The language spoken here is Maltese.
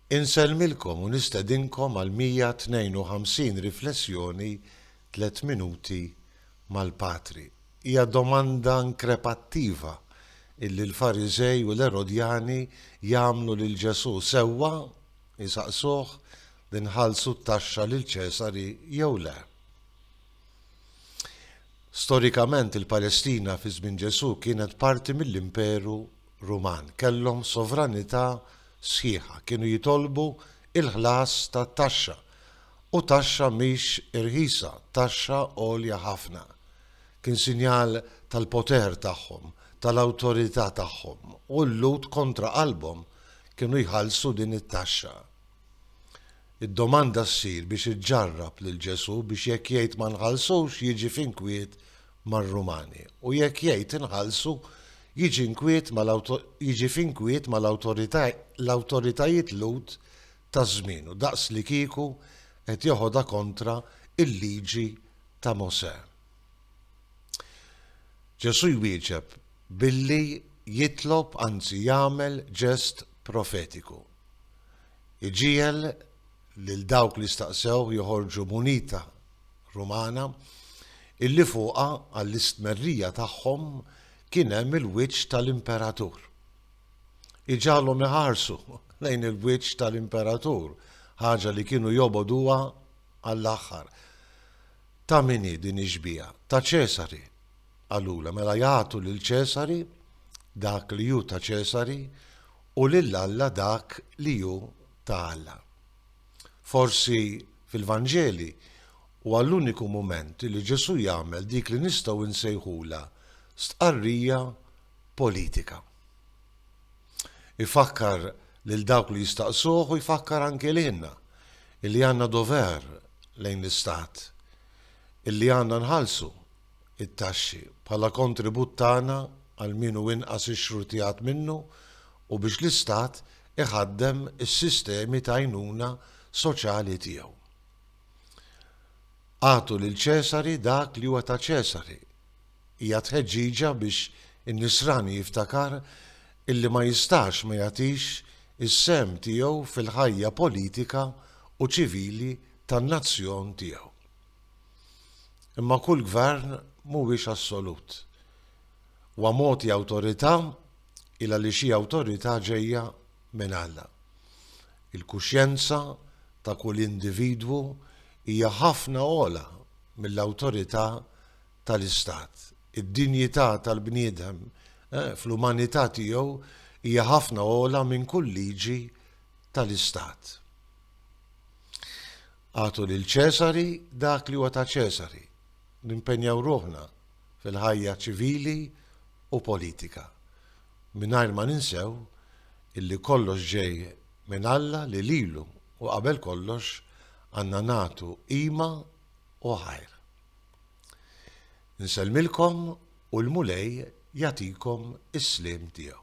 Insellmilkom u nistedinkom għal 152 riflessjoni Tliet Minuti mal-Patri. Hija domanda nkrepattiva illi l-Fariżej u l-Erodjani jagħmlu lil Ġesù, sewwa, isaqsuh li nħallsu t-taxxa lil Ċesar jew le. Storikament il-Palestina fi żmien Ġesù kienet parti mill-Imperu Ruman kellhom sovranità sħiħa, kienu jitolbu l-ħlas ta' taxxa, u taxxa mhix irħisa, taxxa għolja ħafna. Kien sinjal tal-poter tagħhom, tal-awtorità tagħhom, u l-Lhud kontra qalbhom kienu jħallsu din it-taxxa. Id-domanda ssir biex iġġarrab lil Ġesù biex jekk jgħid ma nħallsux jiġi f'inkwiet mar-Rumani u jekk jgħid inħallsu jiġi f'inkwiet mal-awtoritajiet Lhud ta' żmienu daqslikieku qed joħodha kontra l-Liġi ta' Mosè. Ġesù jwieġeb billi jitlob anzi jagħmel ġest profetiku. Iġiegħel lil dawk li staqsew joħorġu munita Rumana, illi fuqha, għall-istmerrija tagħhom, kien hemm il-wiċċ tal-imperatur. Iġagħalhom iħarsu lejn il-wiċċ tal-imperatur, ħaġa li kienu jobogħduha għall-aħħar. Ta' min hi din ix-xbieha? Ta' Ċesari, qalulha, mela jagħtu lil Ċesari dak li hu ta' Ċesari u lil Alla dak li hu ta' Alla. Forsi fil-Vanġeli huwa l-uniku mument li Ġesù jagħmel dik li nistgħu nsejħulha stqarrija politika. Ifakkar lil dawk li jistaqsuh u jfakkar anke lilna illi għandna dover lejn l-istat, illi għandna nħallsu it-taxxi, bħala kontribut tagħna għal min hu inqas ixxrutijat minnu u biex l-Istat iħaddem is-sistemi ta' għajnuna soċjali tiegħu. Agħtu lil Ċesari dak li huwa ta' Ċesari hija tħeġġiġa biex in-nisrani jiftakar illi ma jistax ma jagħtix is-sehem tiegħu fil-ħajja politika u ċivili tan-nazzjon tiegħu. Imma kull gvern mhuwiex assolut. Huwa mogħti awtorità il għaliex hi awtorità ġejja minn Alla. Il-kuxjenza ta' kull individwu hija ħafna ogħla mill-awtorità tal-istat. Id-dinjità tal-bniedem fl-umanità tiegħu hija ħafna ogħla minn kull liġi tal-istat. Agħtu lil Ċesari dak li huwa ta' Ċesari. Nimpenjaw ruħna fil-ħajja ċivili u politika, mingħajr ma ninsew illi kollox ġej minn Alla li lilu u qabel kollox għandna nagħtu qima u ħajr. Insellmilkom u l-Mulej jagħtikom is-sliem tiegħu.